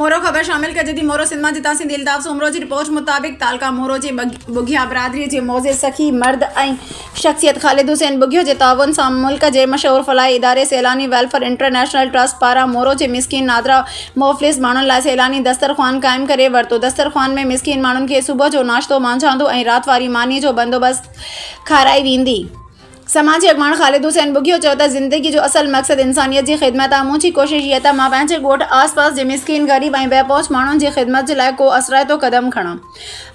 مورو، خبر شامل ڪجي ٿي مورو سنڌ مان جتان سنڌي الطاف سومرو جي رپورٽ مطابق تعلقه مورو جي ٻگهيا برادري جي معزز سخي مرد ۽ شخصيت خالد حسين ٻگهيو جي تعاون سان ملڪ جي مشهور فلاحي اداري سيلاني ويلفيئر انٽرنيشنل ٽرسٽ پاران مورو جي مسڪين نادرا موفلس ماڻهن لاء سيلاني دستر خوان قائم ڪري ورتو دستر خوان ۾ مسڪين ماڻهن کي صبح جو ناشتو مانجهاندو ۽ رات واري ماني جو بندوبست کارائي ويندي. سماجي اڳواڻ خالد حسين ٻگهيو چيو ته زندگي جو اصل مقصد انسانيت جي خدمت آهي، مون جي ڪوشش هيء ته مان پنهنجي ڳوٺ آس پاس جي مسڪين، غريب ۽ بي پهچ ماڻهن جي خدمت جي لاء ڪو اثرائتو قدم کڻان.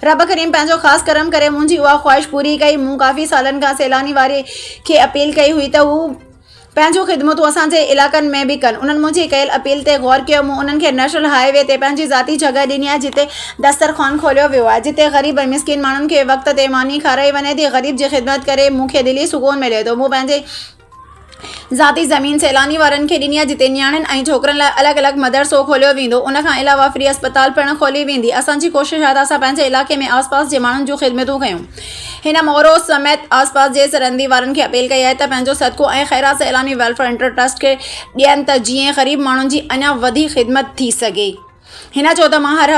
رب ڪريم پنهنجو خاص ڪرم ڪري منهنجي اها خواهش پوري ڪئي، مون ڪافي سالن کان سيلاني واري کي اپيل ڪئي هئي ته هو. پنهنجون خدمتون اسان جي علائقن ۾ به ڪن. انهن منهنجي ڪيل اپيل تي غور ڪيو. مون انهن کي نيشنل هاء وي تي پنهنجي ذاتي جڳهه ڏني آهي جتي دسترخوان کوليو ويو آهي. جتي غريب ۽ مسڪين ماڻهن کي وقت تي ماني کارائي وڃي ٿي. غريب جي خدمت ڪري مون کي دلي سڪون ملي ٿو. مون پنهنجي ذاتي زمين سيلاني وارن کي ڏني آهي جتي نياڻين ۽ ڇوڪرن لاء الڳ الڳ مدرسو کوليو ويندو. ان کان علاوه فري اسپتال پڻ کولي ويندي. اسان جي ڪوشش آهي ته اسان پنهنجي علائقي ۾ آس پاس جي ماڻهن جون خدمتون ڪيون. هن مورو سميت آس پاس جي سرندي وارن کي اپيل ڪئي آهي ته پنهنجو صدقو ۽ خيرات سيلاني ويلفيئر انٽر ٽرسٽ کي ڏين ته جيئن غريب ماڻهن جي اڃا وڌيڪ خدمت ٿي سگهي هن چيو ته مان هر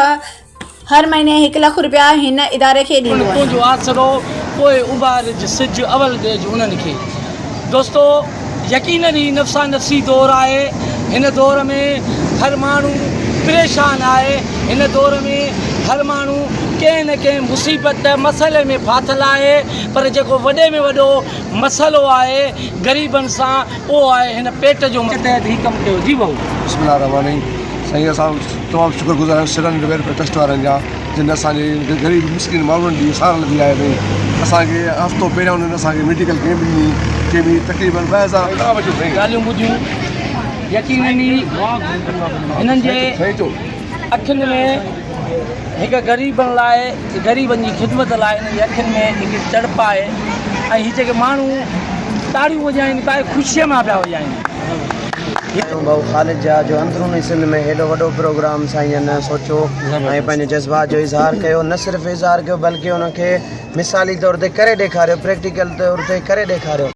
هر مهيني هڪ لک رپيا هن اداري کي ڏيندو آهيان. تنهنجو آسرو پوء اڀارج سج اول ڏيج انهن کي. دوستو! يقينن هي نفسا نفسي دور آهي هن دور ۾ هر ماڻهو پريشان آهي هن دور ۾ هر ماڻهو ڪنهن نه ڪنهن مصيبت مسئلي ۾ ڦاٿل آهي پر جيڪو وڏي ۾ وڏو مسئلو آهي غريبن سان اهو آهي هن پيٽ جو مسئلو تحت هي ڪم ڪيو جي بهو. بسم الله الرحمٰن الرحيم سائين اسان تمام شڪر گذار آهيون سرن ويلفيئر ٽرسٽ وارن جا. جن اسان جي غريب مسڪين ماڻهن جي سار لڌي آهي ۽ اسان کي هفتو پهريان انهن اسان کي ميڊيڪل ڪيمپ ڏني ڪي به تقريبن ٻه هزار ڳالهيون ٻڌيون يقينن ئي هنن جي اکين ۾ هڪ غريبن لاء غريبن جي خدمت لاء هنن جي اکين ۾ هڪ تڙپ آهي ۽ هي جيڪي ماڻهو تاڙيون وڄائين پائي خوشيء مان پيا وڄائين ڪيون ڀائو خالد جا جو اندروني سنڌ ۾ هيڏو وڏو پروگرام سائين نه سوچيو ۽ پنهنجي جذبات جو اظهار ڪيو نه صرف اظهار ڪيو بلڪه ان کي مثالي طور تي ڪري ڏيکاريو پريڪٽيڪل طور تي ڪري ڏيکاريو